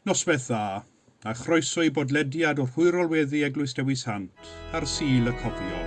Noswaith dda, a chroeso i bodlediad o Rhwyrolweddu Eglwys Dewi Sant ar Sul y Cofio.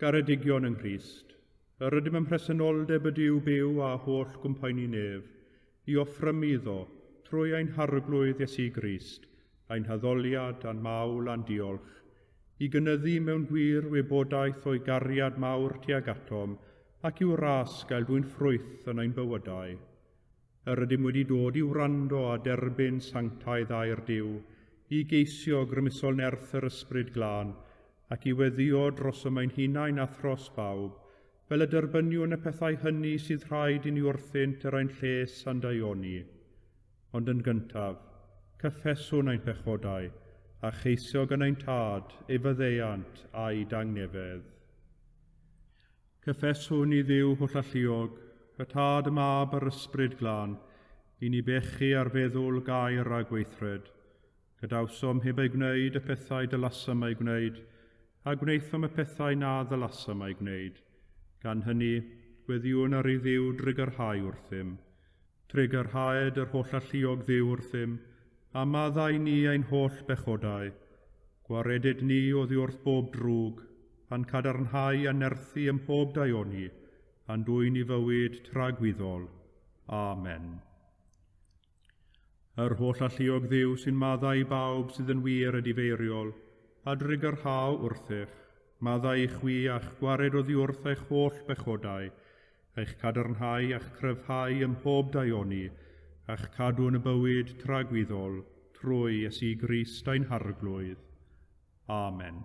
Garedigion yng Nghrist, yr ydym ym mhresenoldeb y Duw byw a holl gwmpaini nef, i offrymu iddo, trwy ein Harglwydd Iesu Grist, ein haddoliad a'n mawl a'n diolch, i gynyddu mewn gwir wybodaeth o'i gariad mawr tuag atom, ac i'w ras gael dwyn ffrwyth yn ein bywydau. Yr ydym wedi dod i wrando a derbyn sanctaidd air Duw, i geisio grymusol nerth yr Ysbryd Glân, ac i weddïo dros y mae'n hunain a thros bawb, fel y derbyniwn y pethau hynny sydd rhaid i ni wrthynt er ein lles a'n daioni. Ond yn gyntaf, cyffeswn ein pechodau, a cheisio gan ein Tad, ei faddeuant, a'i dangnefedd. Cyffeswn i Dduw Hollalluog, y Tad, y Mab, a'r Ysbryd Glân, i ni bechu ar feddwl, gair, a gweithred. Gadawsom heb eu gwneud y pethau dylasem eu gwneud, a gwnaethom y pethau na ddylasem eu gwneud. Gan hynny, gweddïwn ar ei Dduw drwy gyrhau wrthym. Trwy gyrhaed yr holl alluog Dduw wrthym, a maddau ni ein holl bechodau. Gwaredid ni oddi wrth bob drwg, a'n cadarnhau a nerthu ym mhob daioni, a'n dwyn i fywyd tragwyddol. Amen. Yr holl alluog dduw sy'n maddau i bawb sydd yn wir a difeiriol, a drigyrhau wrthych, maddau i chwi a'ch gwared oddiwrth eich holl bechodau, a'ch cadarnhau a'ch cryfhau ym mhob daioni, a'ch cadw yn y bywyd tragwyddol, trwy Iesu Grist ein Harglwydd. Amen.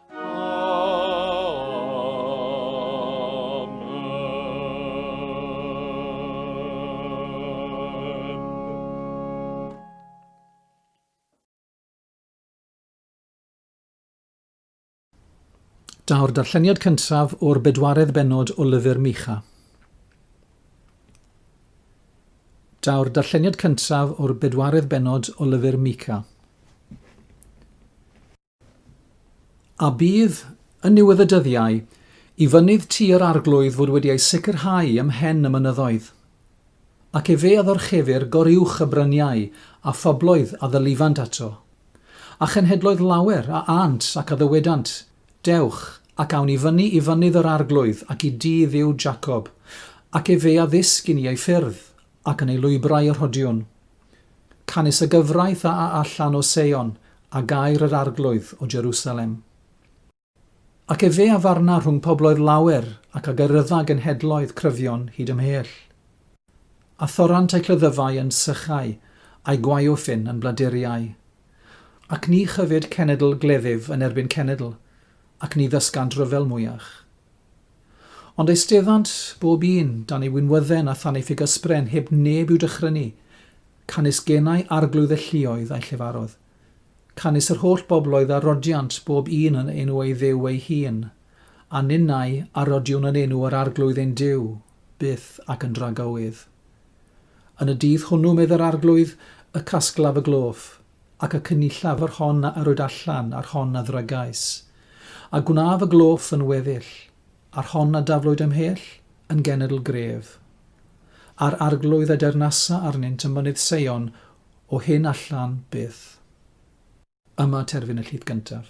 Daw'r darlleniad cyntaf o'r bedwaredd benod o lyfr Micha. Daw'r darlleniad cyntaf o'r bedwaredd benod o lyfr Mica. A bydd, yn niwedd y dyddiau, i fynydd Ty yr Arglwydd fod wedi ei sicrhau ym mhen y mynyddoedd? Ac efe a ddorchefir gor-uwch y bryniau, a phobloedd a ddylifant ato? A chenhedloedd lawer a ânt ac a ddywedant, Dewch, ac awn i fyny i fynydd yr Arglwydd ac i dŷ Dduw Jacob, ac efe a ddysg i ni ei ffyrdd, ac yn ei lwybrau y rhodiwn. Canys y gyfraith a a allan o Seion, a gair yr arglwydd o Jerusalem. Ac efe a farna rhwng pobloedd lawer, ac a gyrrydda genhedloedd cryfion hyd ymhell. A thorrant ei chlyddyfau yn sychau, a'i gwaeofyn yn bladuriau. Ac ni chyfyd cenedl gleddyf yn erbyn cenedl, ac ni ddysgant rhyfel mwyach. Ond eisteddant bob un dan ei winwydden a than ei ffugysbren heb neb i'w dychrynu, canys genai arglwydd y lluoedd a'i llefarodd. Canys yr holl bobloedd a rodiant bob un yn enw ei dduw ei hun, a ninnau a rodiwn yn enw yr arglwydd ein Duw, byth ac yn dragywydd. Yn y dydd hwnnw, medd yr arglwydd, y casglaf y gloff, ac y cynnillaf yr hon a yrwyd allan, a'r hon a ddrygais, a gwnaf y gloff yn weddill, a'r hon a daflwyd ymhell, yn genedl gref. A'r arglwydd a deyrnasa arnynt ym mynydd Seion o hyn allan byth. Yma terfyn y llith gyntaf.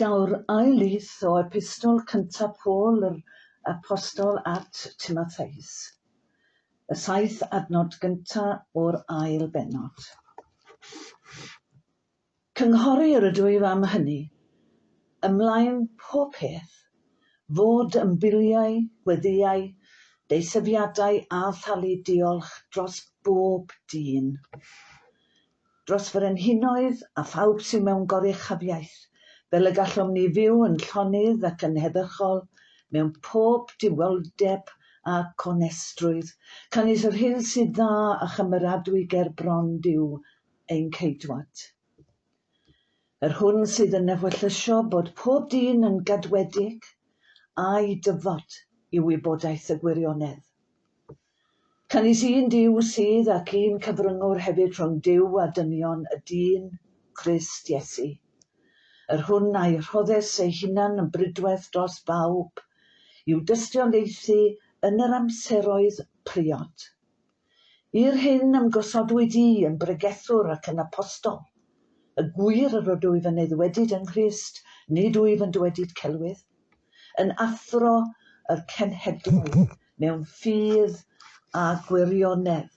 Daw'r ail lith o epistol cyntaf Paul yr Apostol at Timotheus, y saith adnod gyntaf o'r ail bennod. Cynghorir ydw i am hynny, ymlaen pob peth, fod yn biliau, gweddïau, deisyfiadau a thalu diolch dros bob dyn, dros frenhinoedd a phawb sydd mewn goruchafiaeth, fel y gallom ni fyw yn llonydd ac yn heddychol mewn pob diweldeb ac onestrwydd, canys yr hyn sydd dda a chymeradwy ger bron Duw ein Ceidwad. Yr hwn sydd yn ewyllysio bod pob dyn yn gadwedig, a'i dyfod i wybodaeth y gwirionedd. Canys un Duw sydd ac un cyfryngwr hefyd rhwng Duw a dynion, y dyn, Crist Iesu. Yr hwn a'i rhoddes ei hunan yn bridweth dros bawb, i'w dystiolaethu yn yr amseroedd priod. I'r hyn ym gosodwyd i yn bregethwr ac yn apostol, y gwir yr ydwyf yn eiddwedyd yng Nghrist, nid wyf yn dywedyd celwydd, yn athro y cenhedloedd mewn ffydd a gwirionedd.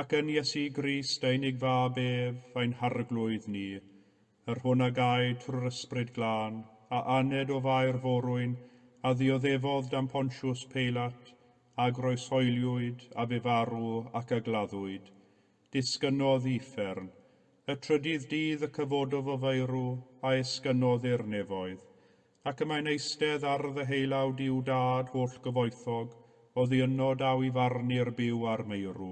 Ac yn Iesu Grist, ein Ig Fab ef, ein Harglwydd ni, yr hwn a gaed trwy'r Ysbryd Glân, a aned o faer forwyn, a ddioddefodd dan Pontiws Peilat, a groeshoeliwyd, a fe farw, ac a gladdwyd, disgynnodd i uffern, y trydydd dydd y cyfododd o faerw, a esgynnodd i'r nefoedd, Ac y mae'n eistedd ar ddeheulawd i'w Dad hollgyfoethog, oddi yno daw i farnu'r byw a'r meirw.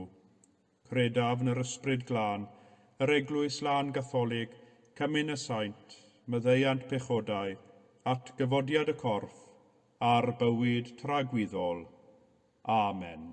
Credaf yn yr Ysbryd Glân, yr Eglwys Lân Gatholig, cymyn y saint, myddeuant pechodau, atgyfodiad y corff, a'r bywyd tragwyddol. Amen.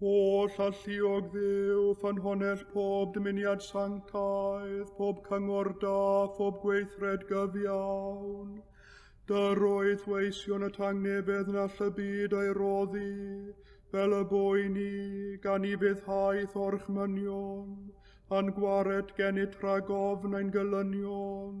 Holl alluog ddew, ffynhonnell pob dymuniad sanctaidd, pob cyngor da, pob gweithred gyfiawn. Dyr oedd weision y tangnefedd na llybyd ei roddi, fel y boi ni, gan i fyddhaeth o'r chmynion, a'n gwared gennyt rhag ofn ein gylynion,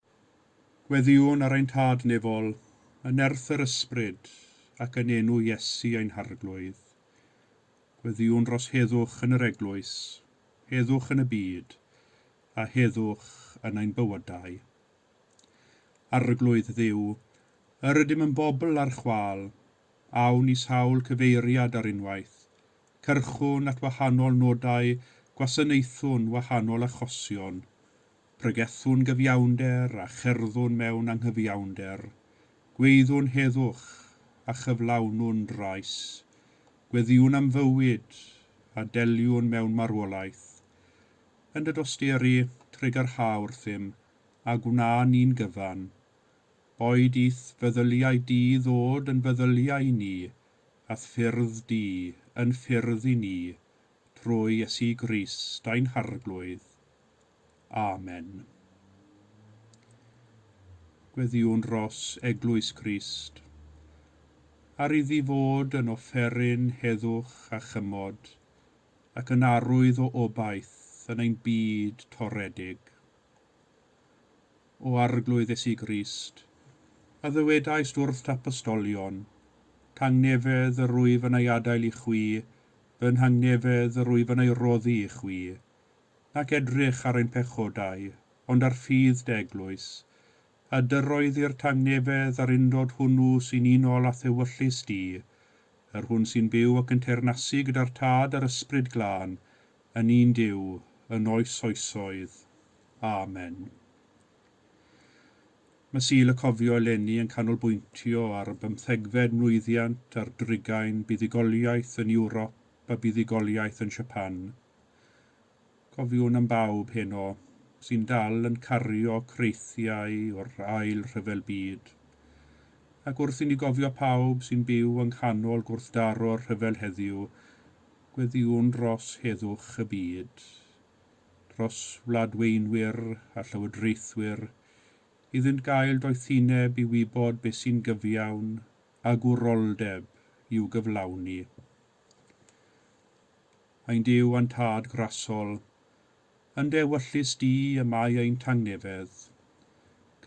Gweddïwn ar ein Tad nefol, yn nerth yr Ysbryd, ac yn enw Iesu ein Harglwydd. Gweddïwn dros heddwch yn yr Eglwys, heddwch yn y byd, a heddwch yn ein bywydau. Arglwydd Dduw, yr ydym yn bobl ar chwâl, awn i sawl cyfeiriad ar unwaith, cyrchwn at wahanol nodau gwasanaethwn wahanol achosion, Pregethwn gyfiawnder a cherddwn mewn anghyfiawnder, gweiddiwn heddwch a chyflawnwn drais, gweddïwn am fywyd a deliwn mewn marwolaeth. Yn dy dosturi, trigyrha wrthym, a gwna ni'n gyfan. Boed i'th feddyliau di ddod yn feddyliau i ni, a'th ffyrdd di yn ffyrdd i ni, trwy Iesu Grist ein Harglwydd. Amen. Gweddïwn dros Eglwys Crist, ar iddi fod yn offeryn heddwch a chymod, ac yn arwydd o obaith yn ein byd toredig. O Arglwydd Iesu Grist, a ddywedaist wrth t'apostolion, Tangnefedd yr wyf yn ei adael i chwi, fy nhangnefedd yr wyf yn ei roddi i chwi, nac edrych ar ein pechodau, ond ar ffydd dy eglwys, a dyroeddir tangnefedd a'r undod hwnnw sy'n unol â thewyllys di, yr hwn sy'n byw ac yn teyrnasu gyda'r Tad a'r Ysbryd Glân, yn un Duw, yn oes oesoedd. Amen. Mae Sul y Cofio eleni yn canolbwyntio ar y bymthegfed mlwyddiant ar drugain buddugoliaeth yn Ewrop a buddugoliaeth yn Siapan. Cofiwn am bawb heno sy'n dal yn cario creithiau o'r Ail Rhyfel Byd, ac wrth i ni gofio pawb sy'n byw yng nghanol gwrthdaro'r rhyfel heddiw, gweddïwn dros heddwch y byd. dros wladweinwyr a llywodraethwyr iddynt gael doethineb i wybod beth sy'n gyfiawn a gwroldeb i'w gyflawni. Ein Duw a'n Tad Grassol, yn Dde wyllys Di y mae ein tangnefedd.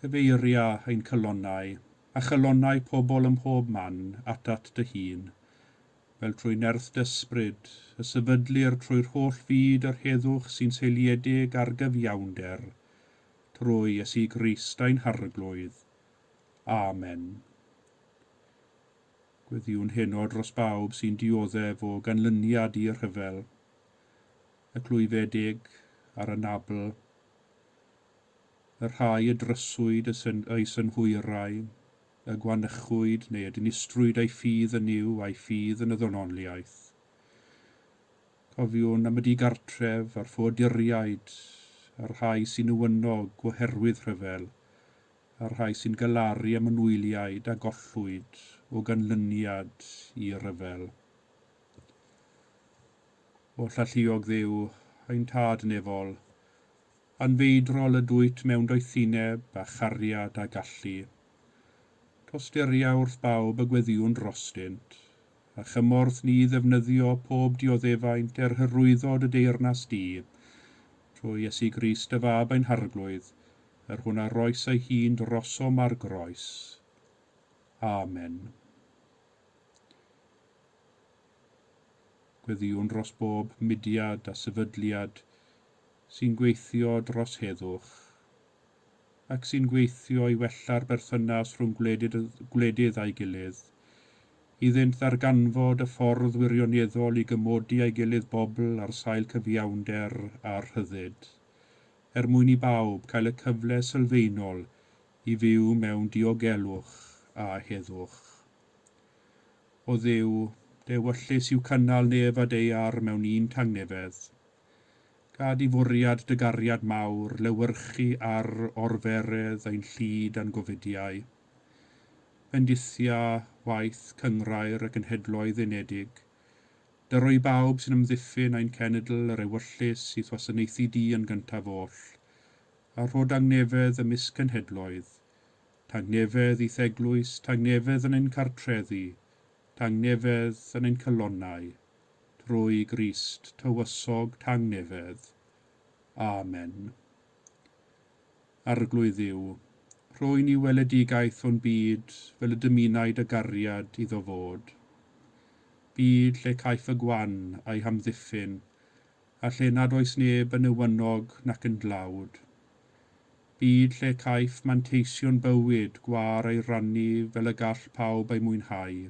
Cyfeiria ein cylonau, a chylonau pobl ym mhob man, atat Dy Hun, fel trwy nerth d'ysbryd, y sefydlir trwy'r holl fyd yr heddwch sy'n seiliedig ar gyfiawnder, trwy Iesu Grist ein Harglwydd. Amen. Gweddïwn heno dros bawb sy'n dioddef o ganlyniad i'r rhyfel, y clwyfedig a'r anabl, y rhai y dryswyd y syn, eu synhwyrau, y gwanychwyd neu y dinistrwyd a'i ffydd yn Nuw a'i ffydd yn y ddonoliaeth. Cofiwn am y digartref a'r ffoaduriaid, a'r rhai sy'n uwynnog oherwydd rhyfel, a'r rhai sy'n galaru am y nwyliaid a gollwyd o ganlyniad i ryfel. O llalluog Dduw, ein Tad nefol, Anfeidrol y dwyt mewn doethineb a chariad a gallu. Tostyria wrth bawb y gweddïwn drostynt, a chymorth ni ddefnyddio pob dioddefaint er hyrwyddod y deyrnas di, trwy Iesu Grist dy Fab ein Harglwydd, yr hwn a roes ei hun drosom ar groes. Amen. Gweddïwn dros bob mudiad a sefydliad, sy'n gweithio dros heddwch ac sy'n gweithio i wella'r berthynas rhwng gwledydd â'i gilydd, iddynt ddarganfod y ffordd wirioneddol i gymodi â'i gilydd bobl ar sail cyfiawnder a rhyddid, er mwyn i bawb cael y cyfle sylfaenol i fyw mewn diogelwch a heddwch. O Dduw, dy ewyllys yw cynnal nef a daear mewn un tangnefedd. Gad i fwriad dy gariad mawr lewyrchu ar orferedd ein llid a'n gofydiau. Bendithia waith Cynghrair y Cenhedloedd Unedig. Dyro i bawb sy'n amddiffyn ein cenedl yr ewyllys i'th wasanaethu di yn gyntaf oll, a rho dangnefedd ymysg cenhedloedd, tangnefedd i'th Eglwys, tangnefedd yn ein cartrefi, tangnefedd yn ein calonnau, Trwy Grist tywysog tangnefedd. Amen. Arglwydd Dduw, rhoi ni weledigaeth o'n byd fel y dymunai dy gariad iddo fod. Byd lle caiff y gwan a'i hamddiffyn, a lle nad oes neb yn newynog nac yn dlawd. Byd lle caiff manteision bywyd gwâr ei rannu fel y gall pawb ei mwynhau.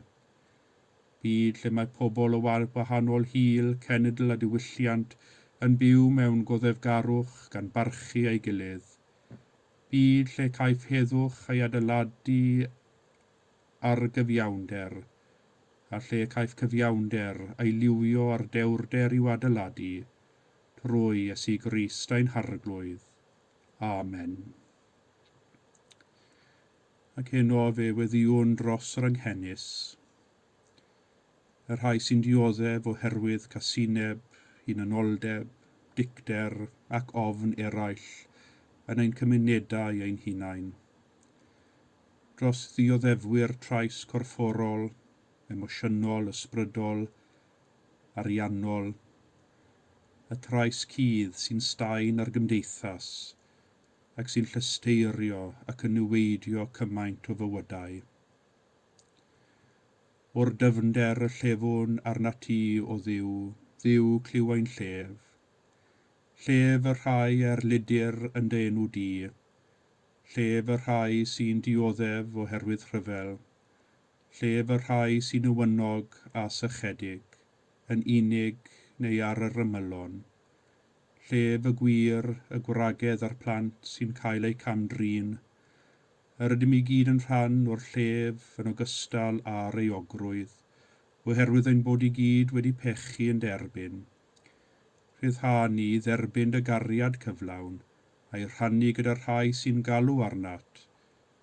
Byd lle mae pobl o wal gwahanol hil, cenedl a diwylliant yn byw mewn goddefgarwch gan barchu ei gilydd. Byd lle caiff heddwch ei adeiladu ar gyfiawnder, a lle caiff cyfiawnder ei liwio ar dewrder i'w adeiladu, trwy Iesu Grist ein Harglwydd. Amen. Ac heno fe weddïwn dros yr anghenus, y rhai sy'n dioddef oherwydd casineb, hunanoldeb, dicter ac ofn eraill yn ein cymunedau ein hunain, dros ddioddefwyr trais corfforol, emosiynol, ysbrydol, ariannol, y trais cudd sy'n staen ar gymdeithas ac sy'n llesteirio ac yn niweidio cymaint o fywydau. O'r dyfnder y llefwn arnat ti, O Dduw, Dduw clyw ein llef, Llef y rhai a'r ludir yn dy enw di, Llef y rhai sy'n dioddef oherwydd rhyfel, Llef y rhai sy'n newynog a sychedig, Yn unig neu ar yr ymylon, llef y gwir, y gwragedd a'r plant sy'n cael eu cam-drin. Yr ydym i gyd yn rhan o'r llef yn ogystal â'r euogrwydd, oherwydd ein bod i gyd wedi pechu yn derbyn. Rhyddhâ ni i dderbyn dy gariad cyflawn, a'i rhannu gyda'r rhai sy'n galw arnat,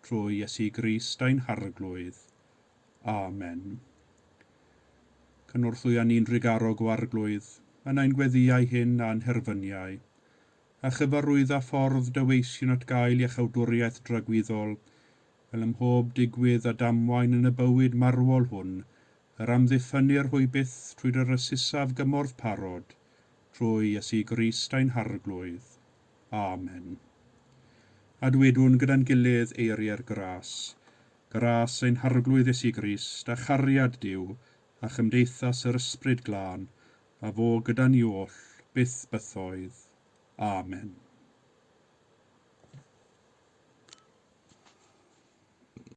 Trwy Iesu Grist ein Harglwydd. Amen. Cynorthwya ni'n drugarog o Arglwydd, yn ein gweddïau hyn a'n herfyniau, a chyfarwydda ffordd Dy weision at gael iachawdwriaeth dragwyddol, fel ym mhob digwydd a damwain yn y bywyd marwol hwn, yr amddiffynnir hwy byth trwy Dy rysysaf gymorth parod, trwy Iesu Grist ein Harglwydd. Amen. A dwedwn gyda'n gilydd eiriau'r gras, Gras ein Harglwydd Iesu Grist, a chariad Duw, a chymdeithas yr Ysbryd Glân, a fo gyda ni oll, byth bythoedd. Amen.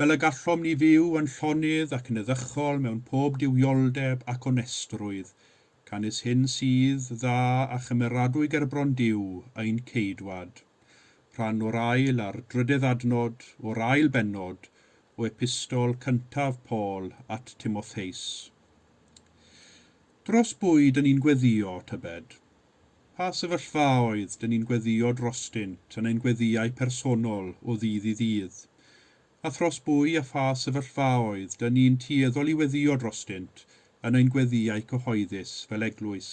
Fel y gallom ni fyw yn llonydd ac yn eddychol mewn pob duwioldeb ac onestrwydd, canys hyn sydd dda a chymeradwy gerbron Duw, ein Ceidwad. Rhan o'r ail a'r drydedd adnod o'r ail bennod o Epistol cyntaf Paul at Timotheus. Dros bwyd yn ni'n gweddio, tybed? Pa sefyllfa a oedd, dyn ni'n gweddïo drostynt, yn ein gweddïau personol, o ddydd i ddydd? A thros bwy a pha sefyllfa a oedd, dyn ni'n tueddol i weddïo drostynt, yn ein gweddïau cyhoeddus, fel eglwys?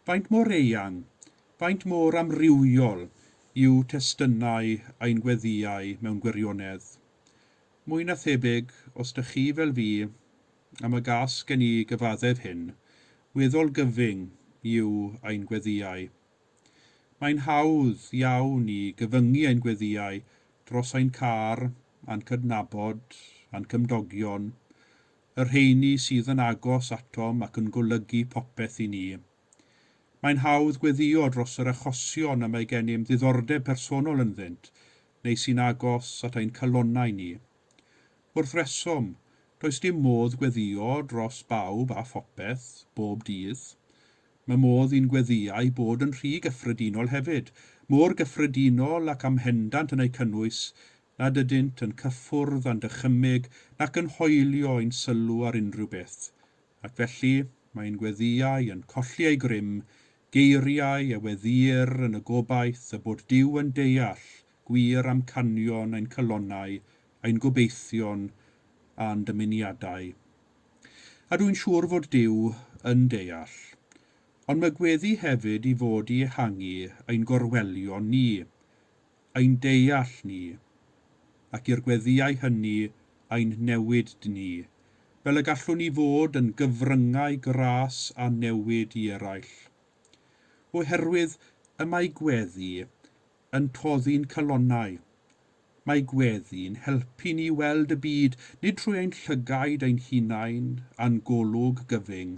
Faint mor eang, faint mor amrywiol yw testunau ein gweddïau mewn gwirionedd? Mwy na thebyg, os dych chi fel fi, am y gas gen i gyfaddef hyn, weddol gyfyng yw ein gweddïau. Mae'n hawdd iawn i gyfyngu ein gweddïau dros ein car, a'n cydnabod, a'n cymdogion, y rheiny sydd yn agos atom ac yn golygu popeth i ni. Mae'n hawdd gweddïo dros yr achosion y mae gennym ddiddordeb personol ynddynt, neu sy'n agos at ein calonnau ni. Wrth resom, does dim modd gweddio dros bawb a phopeth, bob dydd. Mae modd i'n gweddïau bod yn rhy gyffredinol hefyd, mor gyffredinol ac am hendant yn eu cynnwys nad ydynt yn cyffwrdd â'n dychymyg nac yn hoelio ein sylw ar unrhyw beth. Ac felly, mae ein gweddïau yn colli eu grym Geiriau Ewe Ddur yn y gobaith y bod Duw yn deall gwir amcanion ein calonnau, ein gobeithion a'n dymuniadau. A dwi'n siŵr fod Duw yn deall. Ond mae gweddi hefyd i fod i ehangu ein gorwelion ni. ein deall ni, ac i'r gweddïau hynny ein newid ni, fel y gallwn ni fod yn gyfryngau gras a newid i eraill. Oherwydd y mae gweddi yn toddi'n calonnau. Mae gweddi'n helpu ni i weld y byd, nid trwy ein llygaid ein hunain a'n golwg gyfyng,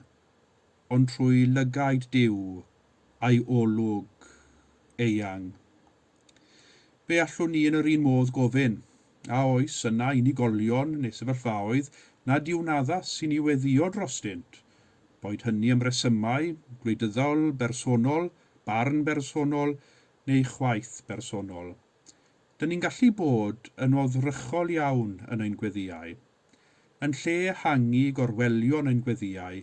Ond trwy lygaid Duw a'i olwg eang, fe allwn ni yn yr un modd gofyn, A oes yna unigolion neu sefyllfaoedd nad yw'n addas i ni weddïo drostynt, boed hynny am resymau gwleidyddol, bersonol, barn bersonol neu chwaeth bersonol? Dŷn ni'n gallu bod yn oddrychol iawn yn ein gweddïau. Yn lle ehangu gorwelion ein gweddïau,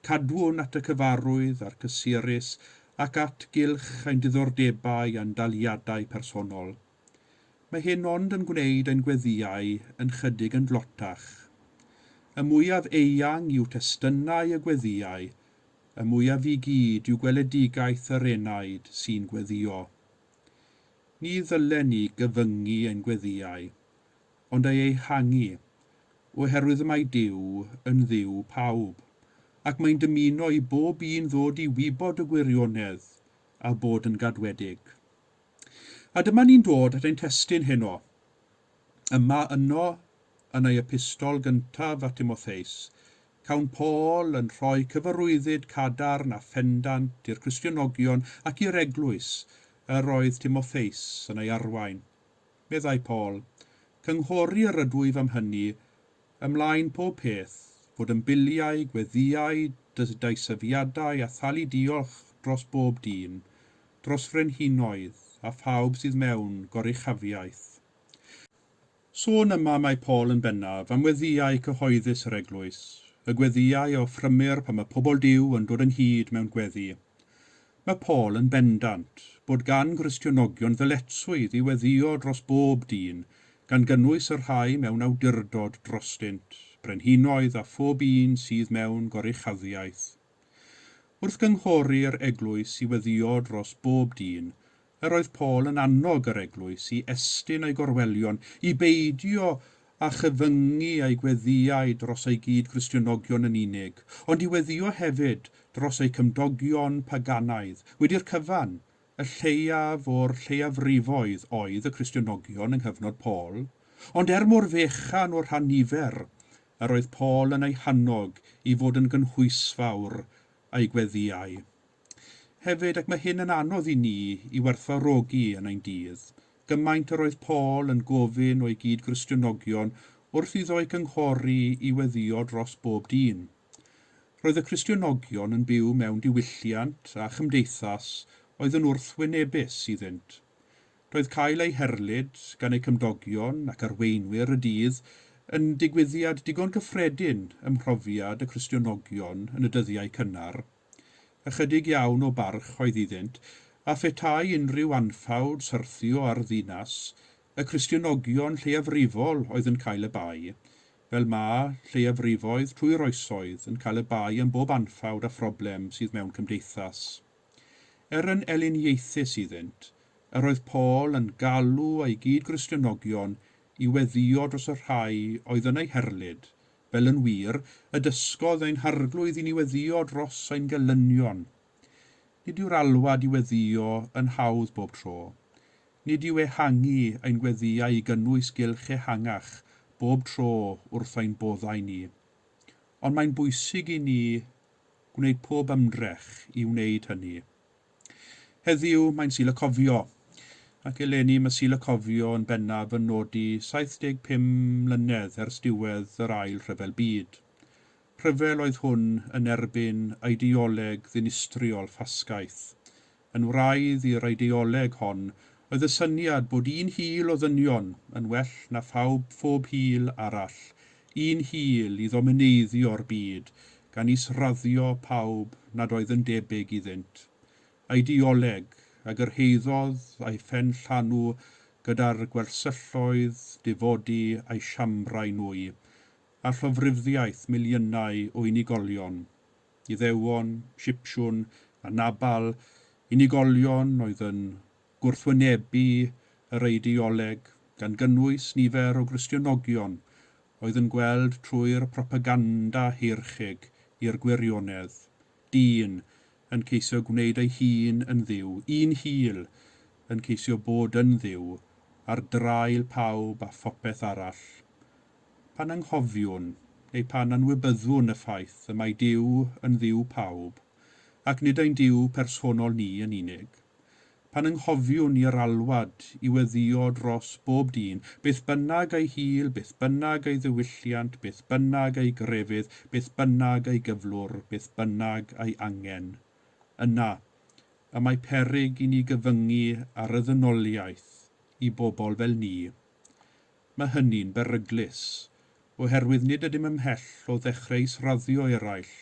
cadwn at y cyfarwydd a'r cysurus ac at gylch ein diddordebau a'n daliadau personol. Mae hyn ond yn gwneud ein gweddïau yn chydig yn dlotach. Y mwyaf eang yw testynnau y gweddïau, y mwyaf i gyd yw gweledigaeth yr enaid sy'n gweddïo. Ni ddylen ni gyfyngu ein gweddïau. ond ei ehangu, oherwydd mae Duw yn Dduw pawb, ac mae'n dymuno i bob un ddod i wybod y gwirionedd a bod yn gadwedig. A dyma ni'n dod at ein testun heno. Yma yno, yn ei epistol gyntaf at Timotheus, cawn Paul yn rhoi cyfarwyddyd cadarn a phendant i'r Cristionogion ac i'r eglwys yr oedd Timotheus yn ei arwain. meddai Paul. Cynghori yr ydwyf am hynny ymlaen pob peth, fod yn biliau, gweddïau, dyddaisyfiadau a thalu diolch dros bob dyn, dros frenhinoedd a phawb sydd mewn goruchafiaeth. Sôn yma mae Paul yn bennaf am weddïau cyhoeddus yr eglwys, y gweddïau a offrymir pan mae pobl Duw yn dod ynghyd mewn gweddi. Mae Paul yn bendant bod gan Gristionogion ddyletswydd i weddïo dros bob dyn, gan gynnwys y rhai mewn awdurdod drostynt, brenhinoedd a phob un sydd mewn goruchaddiaeth. Wrth gynghory'r Eglwys i weddïo dros bob dyn, Yr oedd Paul yn annog yr eglwys i estyn ei gorwelion i beidio â chyfyngu ei gweddïau dros ei gyd-Gristionogion yn unig, ond i weddïo hefyd dros eu cymdogion paganaidd, wedi'r cyfan, y lleiaf o'r lleiafrifoedd oedd y Cristionogion yng nghyfnod Paul, ond er mor fechan o rhan nifer, yr oedd Paul yn eu hannog i fod yn gynhwysfawr a'i gweddïau. Hefyd, ac mae hyn yn anodd i ni i werthfawrogi yn ein dydd, gymaint yr oedd Paul yn gofyn o'i gyd-Gristionogion wrth iddo eu cynghori i weddïo dros bob dyn. Roedd y Cristionogion yn byw mewn diwylliant a chymdeithas oedd yn wrthwynebus iddynt. Roedd cael ei herlid gan eu cymdogion ac arweinwyr y dydd yn digwyddiad digon cyffredin ym mhrofiad y Cristionogion yn y dyddiau cynnar. Ychydig iawn o barch oedd iddynt, a phetai unrhyw anffawd syrthio ar ddinas, y Cristionogion lleiafrifol oedd yn cael y bai, fel ma' lleiafrifoedd trwy'r oesoedd yn cael y bai am bob anffawd a phroblem sydd mewn cymdeithas. Er yn eliniaethus iddynt, yr oedd Paul yn galw ei gyd-Gristionogion i weddio dros y rhai oedd yn eu herlid, fel yn wir, y dysgodd ein Harglwydd i ni weddio dros ein gelynion. Nid yw'r alwad i weddio yn hawdd bob tro. Nid yw ehangu ein gweddïau i gynnwys gylch ehangach bob tro wrth ein boddau ni. Ond mae'n bwysig i ni gwneud pob ymdrech i wneud hynny. Heddiw, mae'n Sul y Cofio, ac eleni mae Sul y Cofio yn bennaf yn nodi 75 mlynedd ers diwedd yr Ail Rhyfel Byd. Rhyfel oedd hwn yn erbyn eideoleg ddinistriol ffasgaeth, Yn wraidd i'r eideoleg hon oedd y syniad bod un hil o ddynion yn well na phawb phob hil arall, un hil i ddomineiddio'r byd gan is-raddio pawb nad oedd yn debyg iddynt. Eideoleg a gyrhaeddodd a'i phen llanw gyda'r gwersylloedd difodi a'i siambrau nwy, a llofruddiaeth miliynau o unigolion. Iddewon, Sipsiwn, a Nabal, unigolion oedd yn gwrthwynebu yr eidioleg, gan gynnwys nifer o Gristionogion oedd yn gweld trwy'r propaganda heircheg i'r gwirionedd, dyn yn ceisio gwneud ei hun yn Dduw, un hil yn ceisio bod yn Dduw ar draul pawb a phopeth arall. Pan anghofiwn, neu pan anwybyddwn y ffaith y mae Duw yn Dduw pawb, ac nid ein Duw personol ni yn unig, pan anghofiwn i yr alwad i weddïo dros bob dyn, beth bynnag ei hil, beth bynnag ei ddiwylliant, beth bynnag ei grefydd, beth bynnag ei gyflwr, beth bynnag ei angen, yna y mae peryg i ni gyfyngu ar y ddynoliaeth i bobl fel ni, Mae hynny'n beryglus, oherwydd nid ydym ymhell o ddechreu israddio'i eraill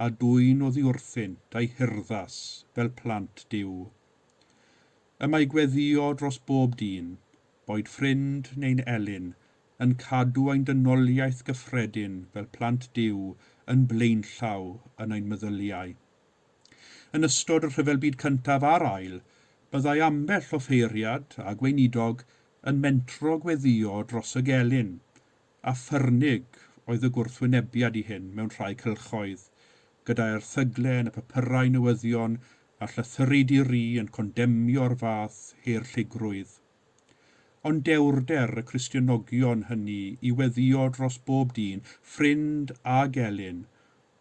a dwyn oddiwrthynt a'i hurddas fel plant Duw. Y mae gweddïo dros bob dyn, boed ffrind neu'n elyn, yn cadw ein dynoliaeth gyffredin fel plant Duw yn blaenllaw yn ein meddyliau. Yn ystod y Rhyfel Byd Cyntaf a'r Ail, byddai ambell offeiriad a gweinidog yn mentro gweddïo dros y gelyn, a ffyrnig oedd y gwrthwynebiad i hyn mewn rhai cylchoedd, gyda erthygle yn y papyrau newyddion a llythyri di-ri yn condemnio'r fath haerlligrwydd. Ond dewrder y Cristionogion hynny i weddïo dros bob dyn, ffrind a gelyn,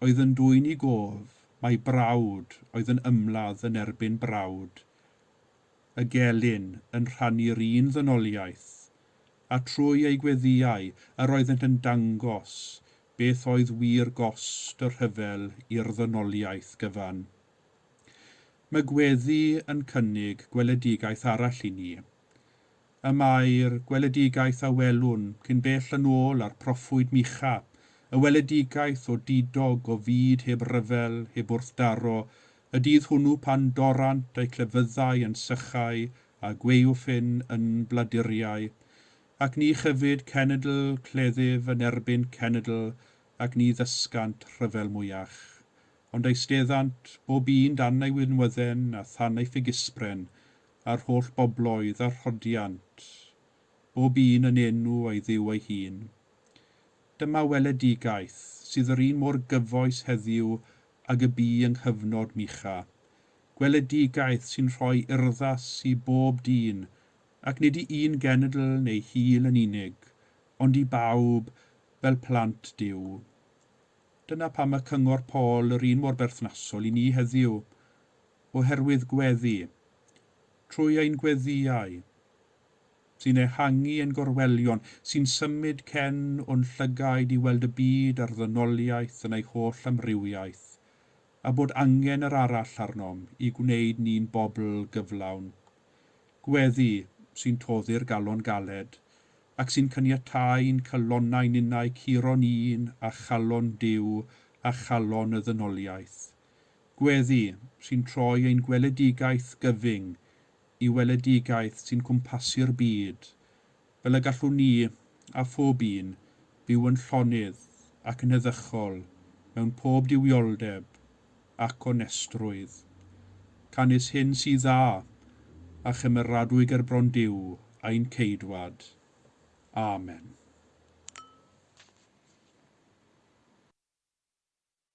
oedd yn dwyn i gof mai brawd oedd yn ymladd yn erbyn brawd, y gelyn yn rhannu'r un ddynoliaeth, a trwy eu gweddïau yr oeddent yn dangos beth oedd wir gost y rhyfel i'r ddynoliaeth gyfan. Mae gweddi yn cynnig gweledigaeth arall i ni. Y mae'r gweledigaeth a welwn cyn bell yn ôl a'r proffwyd Micha, y weledigaeth o didog o fyd heb ryfel, heb wrthdaro, y dydd hwnnw pan dorrant eu clefyddau yn sychau a gwaywffyn yn bladuriau. Ac ni chyfyd cenedl cleddyf yn erbyn cenedl, ac ni ddysgant rhyfel mwyach. Ond eisteddant, bob un dan ei wynwydden a than ei ffigyspren, a'r holl bobloedd a rhoddiant, bob un yn enw ei Dduw ei hun. Dyma weledigaeth sydd yr un mor gyfoes heddiw ag y bu yng nghyfnod Micha, gweledigaeth sy'n rhoi urddas i bob dyn, ac nid i un genedl neu hil yn unig, ond i bawb fel plant Duw. Dyna pam mae cyngor Paul yr un mor berthnasol i ni heddiw, oherwydd gweddi, trwy ein gweddïau, sy'n ehangu ein gorwelion, sy'n symud cen o'n llygaid i weld y byd a'r ddynoliaeth yn ei holl amrywiaeth, a bod angen yr arall arnom i gwneud ni'n bobl gyflawn. Gweddi sy'n toddi'r galon galed, ac sy'n caniatáu i'n calonnau ninnau curo'n un â chalon Duw a chalon y ddynoliaeth. Gweddi, sy'n troi ein gweledigaeth gyfyng i weledigaeth sy'n cwmpasu'r byd, fel y gallwn ni, a phob un, fyw yn llonydd ac yn heddychol mewn pob duwioldeb ac onestrwydd. Canys hyn sydd dda a chymeradwy ger bron Duw ein Ceidwad. Amen.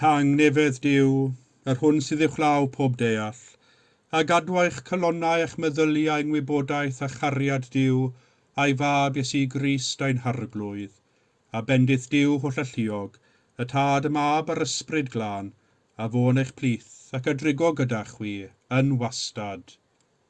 Tangnefedd Duw, yr hwn sydd uwchlaw pob deall, a gadw eich calonnau a'ch meddyliau yng ngwybodaeth a chariad Duw a'i Fab Iesu Grist ein Harglwydd, a bendith Duw hollalluog, y Tad, y Mab, a'r Ysbryd Glân, a fo yn eich plith, ac a drigo gyda chwi, yn wastad.